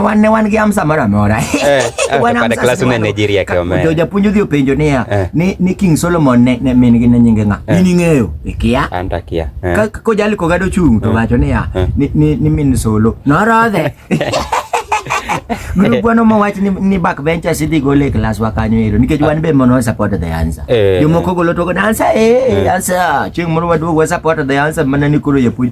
wanne wan gi amsa moro amora eh, eh, japuonj odhi openjo niya eh. ni king solomon ne min gi ne nyinge ng'a in ing'eyo ikia kojali kogado chung' to wacho niya ni min solo norodhe Gurugwano ma wach ni, ni back benchers idhi gole e class wa kanyo ero nikech wan be mono support the answer. Eh. Jomoko golo to go answer eh, eh. answer. Chieng' moro waduogo support the answer mana ni koro japuonj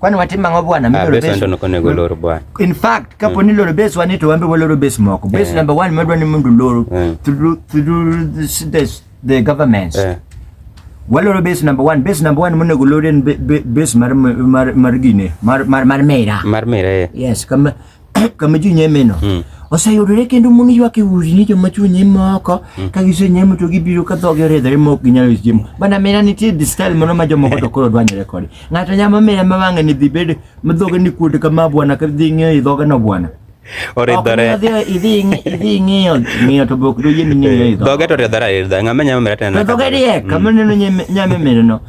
kwani watim ang'o bwana ah, in fact kapo ni mm. loro base wani to wambe waloro base moko base eh. number one madwa ni mundu loro eh. through this the government eh. waloro base number one base number one monego loro en base mar mar mar gine mar mar mar mera mar mera yes kama kama ji nyemeno hmm. oseyudore kendo mon ywak e udi ni joma chwo nyime oko hmm. ka gisenyemo to gibiro ka dhogi oridhore ma ok ginyal uso chiemo bana mera nitie the style moro ma jomoko to koro dwanyore kode ng'ato nyama mera ma wang'e ni dhi bed ma dhoge ni kuod kama bwana ka dhi ng'eyo i dhoge no bwana oridhore idhi ng'iyo ng'iyo to bok doyie ni ng'iyo idho dhoge to oridhore aridha ng'ama nyama mera tena dhoge riek kama hmm. neno nyame mera no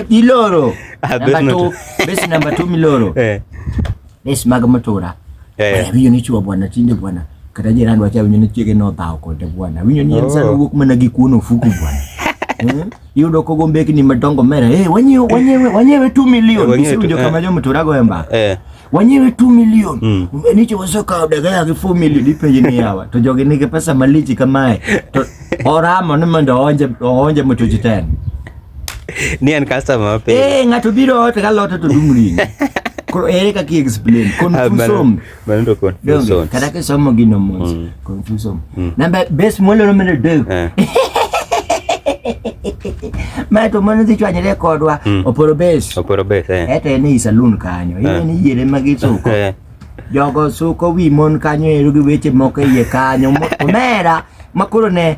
iloro ah, number 2 base number 2 miloro eh. Res mag mtura. Eh. Winyo ni chuo bwana tinde bwana. Kata jirani wacha winyo ni chiege no dhao kode bwana. Winyo ni en sana oh. wuok mana gi kuono fuku bwana. Hmm? Yudo kogo mbekni madongo mera. Eh, wanyewe wanyewe wanyewe 2 million. Eh, Bisi winyo eh. kama jo mtura go emba. Eh. Wanyewe 2 million. Mm. Nicho wasoka daga ya 4 million ipenye ni hawa. To jogi nige pesa malichi kamae. To oramo ni mondo oonje oonje mtuji tena. Ni an customer mapiyo. Eh, ng'ato biro ot ka lot to dum ring. Koro ere kaka explain ah, confusion. Mano to confusion. Kada ke somo gino mos. Mm. Confusion. Mm. Namba best molo no mele dog. Eh. Mae to mano dhi chwanyre kodwa mm. oporo bes. Oporo bes eh. Eto en e saloon kanyo. Eh. Ine ni yere magi suko. Jogo suko wi mon kanyo ero gi weche moko iye kanyo. Omera makoro ne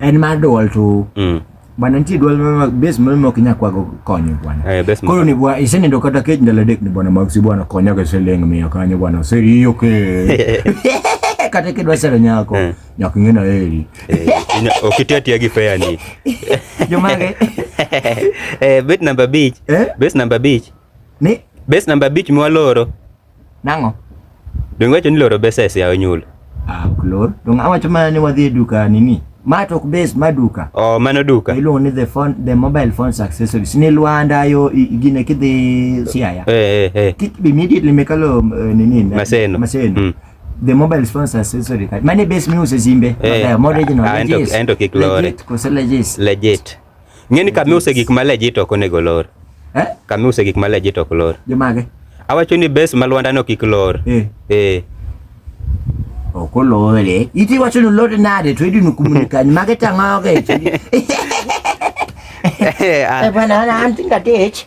en mar dual to mm. bana nitie dual moro base moro mok inyal kwago konyo bwana eh, koro ni bwana isenindo kata kech ndalo adek ni bwana mag si bwana konya ga siling miya kanyo bwana oseriyo ke kata kidwa sero nyako eh. nyako ing'e na heri eh, ok iti atiya gi fair ni jomage eh, bet number beach eh? base number beach ni base number beach mwaloro Nang'o? Donge wacho ni loro besa e siayo nyulo? Ah, ok lor. Donge awacho mana ni wadhi e duka nini? Ma to ok base, ma duka. Oh, mano duka. Iluongo ni the phone, the mobile phones accessories. Ni Luanda yo i- gine kidhi Siaya. Eh, eh, eh. Ki- Immediately mekalo eh, nini? na- Maseno. Maseno. Mm. The mobile phones accessory card. Mane base miuse simbe. Eh, Mabeyo, more original. ah, ento- legit. ento kik lore. Legit, kose legit. Legit. Ng'eni kama iuse gik ma legit ok onego olor. Eh? Kama iuse gik ma legit ok olor. Jomage? Awacho ni base ma Lwanda no kik lor. Eh. Eh. Ok olore. Iti wacho ni olore nade to idino kumunikani mage tang'oge. Eh, ah. Eh, bwana ana anti ngatich.